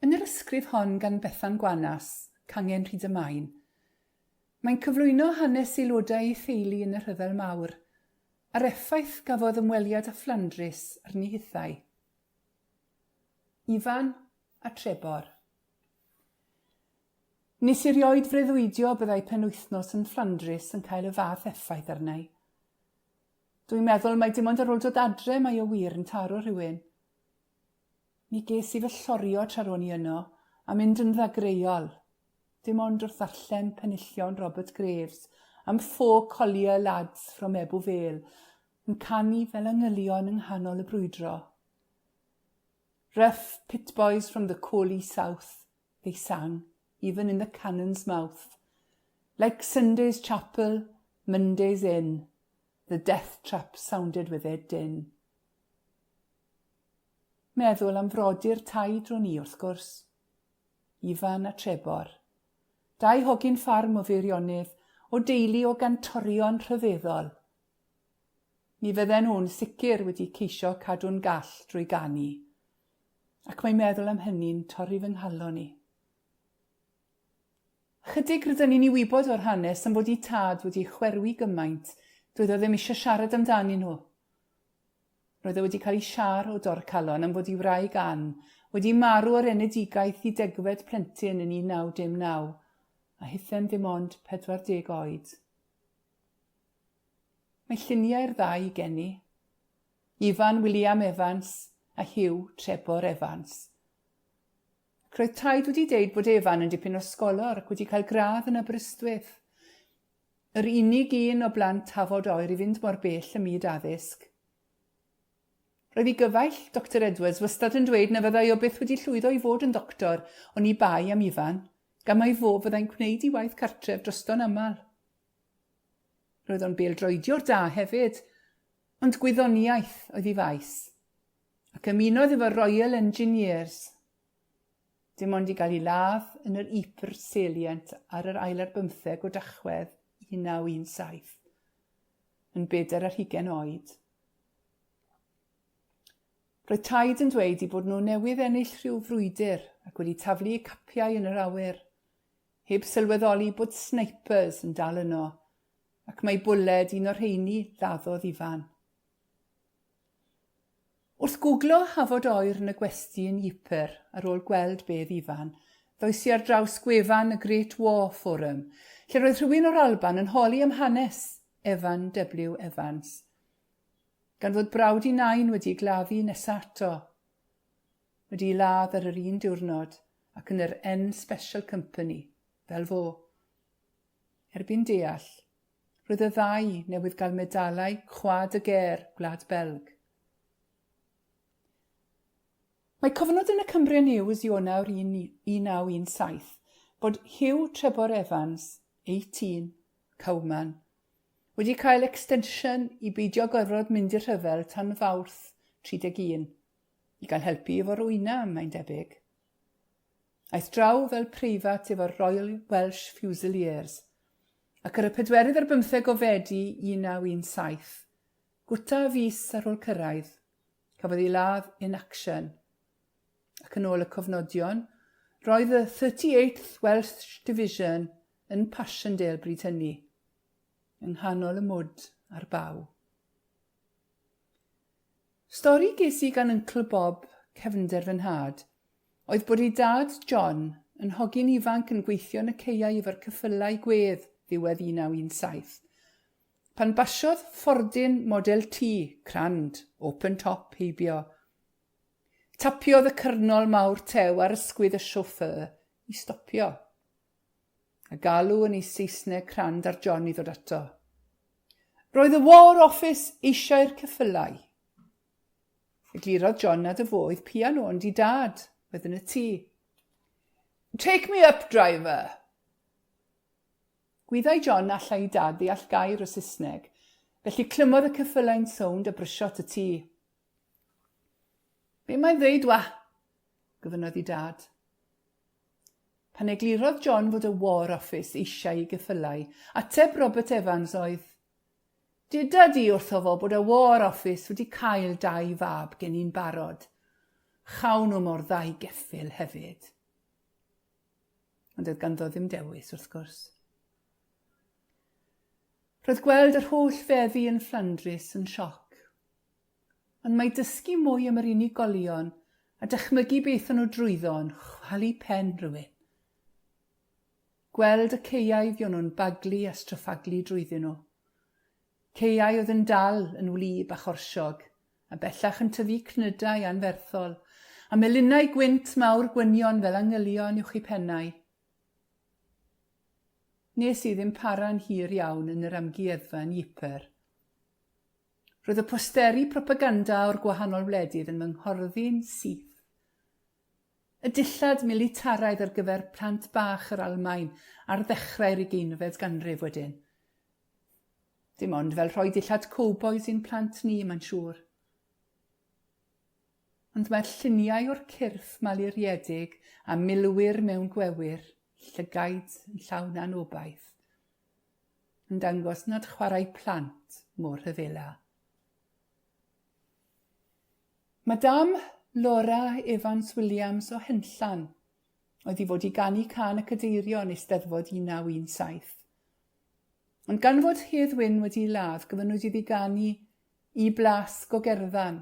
Yn yr ysgrif hon gan Bethan Gwanas, Cangen Rhyd y Maen, mae'n cyflwyno hanes aelodau ei theulu yn y Rhyfel Mawr, a'r effaith gafodd ymweliad â Fflandrys arni hithau. Ifan a Trebor. Nes erioed freuddwydio byddai penwythnos yn Fflandrys yn cael y fath effaith arnau. Dwi'n meddwl mai dim ond ar ôl dod adre mae o wir yn taro rhywun. Mi ges i fy llorio tra ro'n i yno, a mynd yn ddagreuol, dim ond wrth ddarllen penillion Robert Graves am Four Collier Lads from Ebw Vale yn canu fel angylion yng nghanol y brwydro. Rough pit boys from the Coley South, they sang, even in the cannon's mouth. Like Sunday's chapel, Monday's inn, the death trap sounded with their din. Meddwl am frodyr taid ro'n i, wrth gwrs. Ifan a Trebor. Dau hogyn ffarm o Feirionydd, o deulu o gantorion rhyfeddol. Mi fydden nhw'n sicr wedi ceisio cadw'n gall drwy ganu. Ac mae meddwl am hynny'n torri fy nghalon i. Ychydig rydyn ni'n ei wybod o'r hanes am fod 'i tad wedi chwerwi gymaint, doedd o ddim eisiau siarad amdanyn nhw. Roedd e wedi cael ei siâr o dorcalon am fod ei wraig Ann wedi marw o'r enedigaeth i degfed plentyn yn 1919, a hithem ddim ond 40 oed. Mae lluniau'r ddau gen i. Ifan William Evans a Hugh Trebor Evans. Ac roedd taid wedi deud bod Evan yn dipyn o sgolor ac wedi cael gradd yn Aberystwyth. Yr unig un o blant Tafod Oer i fynd mor bell ym myd addysg. Roedd i gyfaill Doctor Edwards wastad yn dweud na fyddai o byth wedi llwyddo i fod yn ddoctor oni bai am Ifan, gan mai fo fyddai'n gwneud i waith cartref drosto'n aml. Roedd o'n bêl-droediwr da hefyd, ond gwyddoniaeth oedd i faes. Ac ymunodd efo Royal Engineers. Dim ond i gael ei ladd yn yr Ypres Salient ar yr ail ar bymtheg o Dachwedd 1917, yn bedair ar hugain oed. Roedd taid yn dweud i bod nhw newydd ennill rhyw frwydr ac wedi taflu eu capiau yn yr awyr, heb sylweddoli bod snipers yn dal yno, ac mai bwled un o'r rheini laddodd Ifan. Wrth gwglo Hafod Oer yn y gwesty yn Ypres ar ôl gweld be oedd Ifan, ddois i ar draws gwefan y Great War Forum, lle roedd rhywun o'r Alban yn holi am hanes Evan W. Evans. Gan fod brawd i nain wedi ei gladdu nesa ato, wedi ei ladd ar yr un diwrnod ac yn yr N Special Company, fel fo. Erbyn deall, Roedd y ddau newydd gael medalau Croix de Guerre Gwlad Belg. Mae cofnod yn y Cumbria News Ionawr 1917 bod Hugh Trebor Evans, 18, Cowman, wedi cael extension i beidio gorfod mynd i'r rhyfel tan Fawrth 31, i gael helpu efo'r wyna, mae'n debyg. Aeth draw fel preifat efo'r Royal Welsh Fusiliers, ac ar y pedwerydd ar bymtheg o Fedi 1917, gwta fis ar ôl cyrraedd, cafodd ei ladd in action. Ac yn ôl y cofnodion, roedd y 38th Welsh Division yn Passchendaele bryd hynny, yng nghanol y mwd a'r baw. Stori ges i gan Yncl Bob, cefnder fy nhad, oedd bod ei dad, John, yn hogyn ifanc yn gweithio yn y caeau efo'r ceffylau gwedd ddiwedd 1917, pan basiodd ffordin Model T, crand, open top, heibio. Tapiodd y cyrnol mawr tew ar ysgwydd y chauffeur i stopio. A galw yn ei Saesneg crand ar John i ddod ato. Roedd y War Office eisiau'r ceffylau. Eglurodd John nad y fo oedd pian ond i dad, oedd yn y tŷ. Take me up, driver! Gwyddai John allai i dad ddeall gair o Saesneg, felly clymodd y ceffylau'n sownd a brysio at y tŷ. Be mae'n ddeud wa? gofynnodd i dad. Pan eglurodd John fod y War Office eisiau i geffylau, ateb Robert Evans oedd, Dyda di wrtho fo bod y War Office wedi cael dau fab gen i'n barod. Chawn nhw mor dda i geffyl hefyd. Ond oedd ganddo ddim dewis, wrth gwrs. Roedd gweld yr holl feddi yn Fflandrys yn sioc. Ond mae dysgu mwy am yr unigolion a dychmygu beth o'n nhw drwyddo yn chwalu pen rhywun. Gweld y caeau fy o'n nhw'n baglu a stryffaglu drwyddyn nhw. Caeau oedd yn dal yn wlyb a chorsiog, a bellach yn tyfu cnydau anferthol, a melinau gwynt mawr gwynion fel angylion uwch eu pennau. Nes i ddim para'n hir iawn yn yr amgueddfa yn Ypres. Roedd y posteri propaganda o'r gwahanol wledydd yn fy nghorddi'n syth. Y dillad militaraidd ar gyfer plant bach yr Almaen ar ddechrau'r ugeinfed ganrif wedyn. Dim ond fel rhoi dillad cowbois i'n plant ni, mae'n siŵr. Ond mae'r lluniau o'r cyrff maluriedig a milwyr mewn gwewyr, llygaid yn llawn anobaith. yn dangos nad chwarae plant mor rhyfela. Madame Laura Evans Williams o Henllan oedd i fod i ganu can y cadeirio yn Eisteddfod 1917. Ond gan fod Hedd Wyn wedi ei ladd, gofynnwyd iddi ganu i blasg o gerddan.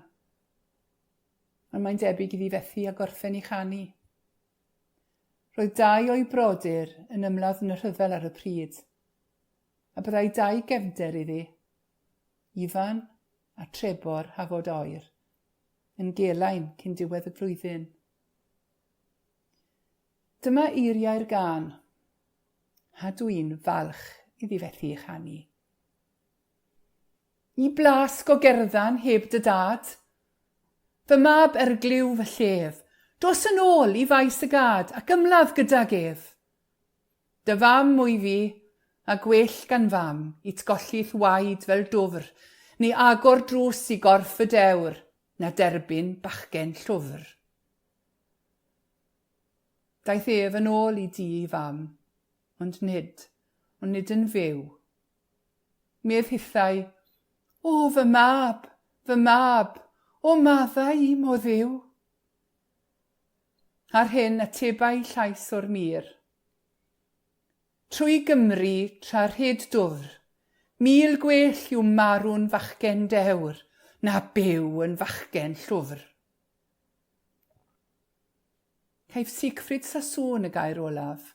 Ond mae'n debyg iddi fethu a gorffen ei chanu. Roedd dau o'i brodyr yn ymladd yn y rhyfel ar y pryd, a byddai dau gefnder iddi, Ifan a Trebor Hafod Oer, yn Gelain cyn diwedd y flwyddyn. Dyma eiriau'r gân, a dw i'n falch iddi fethu ei chanu. Y blas gogerddan heb dy dad. Fy mab erglyw fy llef. Dos yn ôl i faes y gad ac ymladd gydag ef. Dy fam wy fi, a gwell gan fam it golli'th waed fel dwfr, neu agor drws i gorff y dewr, na derbyn bachgen llwfr. Daeth ef yn ôl i dŷ ei fam, ond nid, ond nid yn fyw. Medd hithau, O, fy mab, fy mab, o maddau i, mo Dduw! Ar hyn atebai llais o'r mur. Trwy Gymru, tra rhyd dwfr, mil gwell yw marw'n fachgen dewr na byw yn fachgen llwfr. Caiff Siegfried Sassoon y gair olaf.